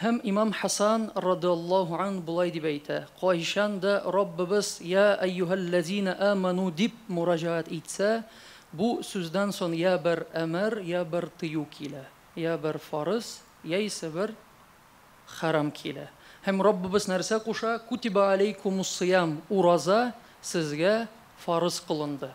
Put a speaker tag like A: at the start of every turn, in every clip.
A: Һәм имам Хәсан, радыаллаһу ан, болай дип әйтә, Кайчан да Раббыбыз Йа әйюһәлләзинә әмәну дип мураҗәгать итсә, бу сүздән сон йә бер әмер, йә бер тыю килә, йә бер фарыз, яисә бер хәрам килә. Һәм Раббыбыз нәрсә куша, Кутиба аләйкумуссыям, ураза сезгә фарыз кылынды.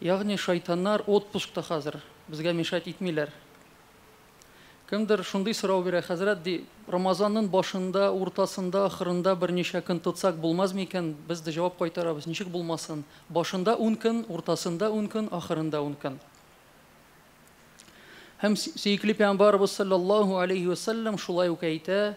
A: Ягъни шайтаннар отпускта хәзер, безгә мешать итмиләр. Кемдер шундый сорау бирә, Хәзрәт, ди, Рамазаннын башында, уртасында, ахырында берничә көн тотсак булмаз микән? Без дә җавап кайтарабыз, ничек булмасын? Башында ун көн, уртасында ун көн, ахырында ун көн. Һәм сөекле пәйгамбарыбыз салләллаһу алейһи вә сәлләм шулай ук әйтә,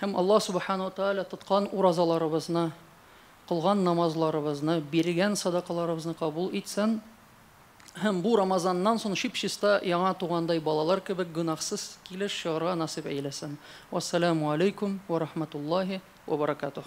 A: Һәм Аллаһ Субхана ва Тааля тоткан уразаларыбызны, кылган намазларыбызны, биргән садакаларыбызны кабул итсен. Һәм бу Рамазаннан соң чип-чиста яңа тугандай балалар кебек гөнаһсыз килеш чыгарга насыйп әйләсен. Вассаламу алейкум ва рахматуллаһи ва баракатуһ.